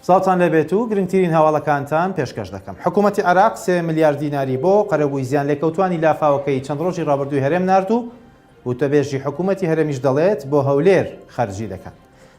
سڵاوتان لەبێت و گرنگترین هەواڵەکانتان پێشکەش دەکەم حکوومەتتی عراق سێ میلیارد دیناری بۆ قەرەبووی زیان لێکەوتانی لافاوەکەی چەند ڕۆژی ڕابردووی هەرێم نرد و وتەبێژی حکوومەتتی هەرێمیش دەڵێت بۆ هەولێر خەرجی دەکەن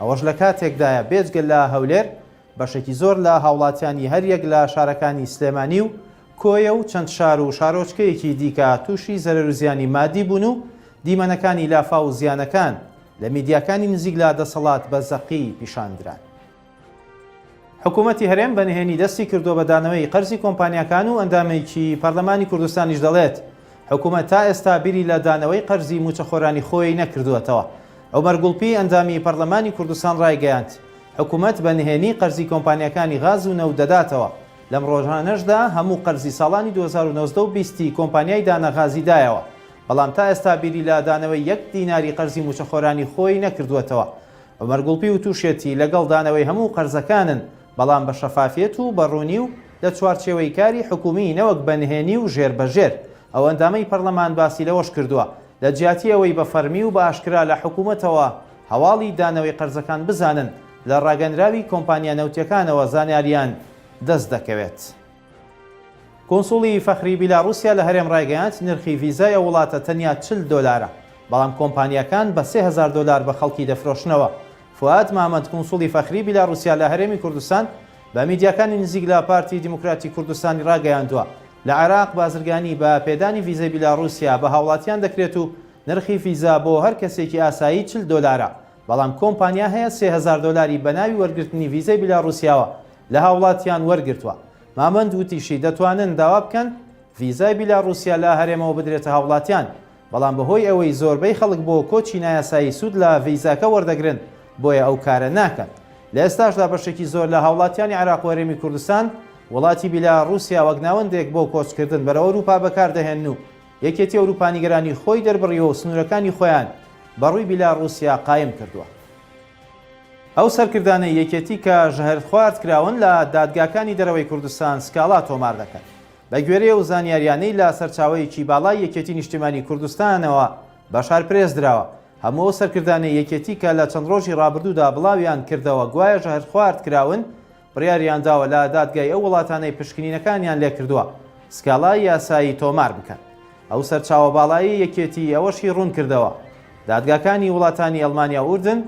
ئەوەش لە کاتێکدایە بێجگە لە هەولێر، بەشێکی زۆر لە هاوڵاتیانی هەریەک لە شارەکانی سلێمانی و کۆیە و چەند شار و شارۆچکەیەکی دیکە تووشی زەرەروزیانی مادی بوون و دیمەنەکانی لافاو و زیانەکان لە میدیاکانی نزیک لە دەسەڵات بە زەقی پیشاندران. حکوومەتی هەرێم بە نهێنی دەستی کردووە بە دانەوەی قەرزی کۆمپانیاکان و ئەندامێکی پەرلەمانی کوردستانیش دەڵێت، حکوومەت تا ئێستا بیری لە دانەوەی قەرزی مووچەخۆرانی خۆی نەکردووەتەوە. عومەر گوڵپی، ئەندامی پەرلەمانی کوردستان ڕایگەیاند، حکوومەت بە نهێنی قەرزی کۆمپانیاکانی غاز و نەوت دەداتەوە، لەم ڕۆژانەشدا هەموو قەرزی ساڵانی دوو هەزار و نۆزدە و بیست ی کۆمپانیای دانا غازی دایەوە، بەڵام تا ئێستا بیری لە دانەوەی یەک دیناری قەرزی مووچەخۆرانی خۆی نەکردووەتەوە. عومەر گوڵپی وتوشیەتی، لەگەڵ دانەوەی هەموو قەرزەکانن، بەڵام بە شەفافیەت و بە ڕوونی و لە چوارچێوەی کاری حکومی نەوەک بە نهێنی و ژێر بە ژێر. ئەو ئەندامەی پەرلەمان باسی لەوەش کردووە، لە جیاتی ئەوەی بە فەرمی و بە ئاشکرا لە حکومەتەوە هەواڵی دانەوەی قەرزەکان بزانن، لە ڕاگەنراوی کۆمپانیا نەوتیەکانەوە زانیاریان دەست دەکەوێت. کونسوڵی فەخری بیلاڕوسیا لە هەرێم ڕایگەیاند، نرخی ڤیزای ئەو وڵاتە تەنیا چل دۆلارە، بەڵام کۆمپانیاکان بە سێ هەزار دۆلار بە خەڵکی دەفرۆشنەوە. فوئاد مامەند، کونسوڵی فەخری بیلاڕوسیا لە هەرێمی کوردستان بە میدیاکانی نزیک لە پارتی دیموکراتی کوردستانی ڕاگەیاندووە، لە عێراق بازرگانی بە پێدانی ڤیزەی بیلاڕوسیا بە هاوڵاتیان دەکرێت و نرخی ڤیزا بۆ هەر کەسێکی ئاسایی چل دۆلارە، بەڵام کۆمپانیا هەیە سێ هەزار دۆلاری بەناوی وەرگرتنی ڤیزەی بیلاڕوسیاوە لە هاوڵاتیان وەرگرتووە. مامەند وتیشی، دەتوانن داوا بکەن ڤیزای بیلاڕوسیا لە هەرێمەوە بدرێتە هاوڵاتیان، بەڵام بەهۆی ئەوەی زۆربەی خەڵک بۆ کۆچی نایاسایی سوود لە ڤیزاکە وەردەگرن، بۆیە ئەو کارە ناکات. لە ئێستاشدا بەشێکی زۆر لە هاوڵاتیانی عێراق و هەرێمی کوردستان، وڵاتی بیلاڕوسیا وەک ناوەندێک بۆ کۆچکردن بەرەو ئەوروپا بەکاردەهێنن و یەکێتی ئەوروپا نیگەرانی خۆی دەربڕیوە و سنوورەکانی خۆیان بەڕووی بیلاڕوسیا قایم کردووە. ئەو سەرکردانەی یەکێتی کە ژەهرخوارد کراون لە دادگاکانی دەرەوەی کوردستان سکاڵا تۆمار دەکەن. بەگوێرەی ئەو زانیاریانەی لە سەرچاوەیەکی باڵای یەکێتی نیشتیمانی کوردستانەوە بەشار پرێس دراوە، هەموو ئەو سەرکردانەی یەکێتی کە لە چەند ڕۆژی ڕابردوودا بڵاویان کردەوە گوایە ژەهرخوارد کراون، بڕیاریان داوە لە دادگای ئەو وڵاتانەی پشکنینەکانیان لێکردووە سکاڵای یاسایی تۆمار بکەن. ئەو سەرچاوە باڵای یەکێتی ئەوەشی ڕوونکردەوە، دادگاکانی وڵاتانی ئەڵمانیا و ئوردن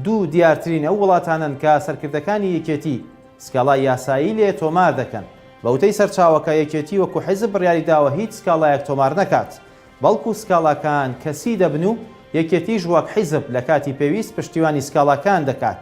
دوو دیارترین ئەو وڵاتانەن کە سەرکردەکانی یەکێتی سکاڵای یاسایی لێ تۆمار دەکەن. بە وتەی سەرچاوەکە، یەکێتی وەکو حیزب بڕیاری داوە هیچ سکاڵایەک تۆمار نەکات، بەڵکو سکاڵاکان کەسی دەبن و یەکێتیش وەک حیزب لە کاتی پێویست پشتیوانی سکاڵاکان دەکات.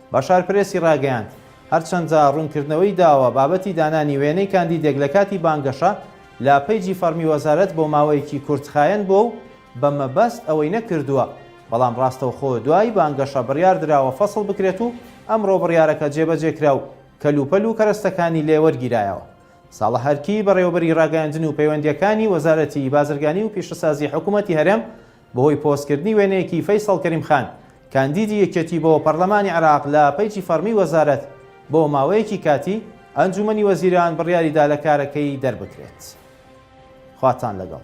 بەشار پرێسی ڕاگەیاند، هەرچەندە ڕوونکردنەوەی داوە بابەتی دانانی وێنەی کاندیدێک لە کاتی بانگەشە لە پەیجی فەڕمی وەزارەت بۆ ماوەیەکی کورتخایەن بووە و بە مەبەست ئەوەی نەکردووە، بەڵام ڕاستەوخۆ دوای بانگەشە بڕیاردراوە فەسڵ بکرێت و ئەمڕۆ بڕیارەکە جێبەجێکرا و کەلوپەل و کەرەستەکانی لێ وەرگیرایەوە. ساڵح ئەرکی، بەڕێوەبەری ڕاگەیاندن و پەیوەندییەکانی وەزارەتی بازرگانی و پیشەسازی حکوومەتی هەرێم، بەهۆی پۆستکردنی وێنەیەکی فەیسەڵ کەریم خان، کاندیدی یەکێتی بۆ پەرلەمانی عێراق لە پەیجی فەڕمی وەزارەت، بۆ ماوەیەکی کاتی، ئەنجوومەنی وەزیران بڕیاری دا لە کارەکەی دەربکرێت. خواتان لەگەڵ.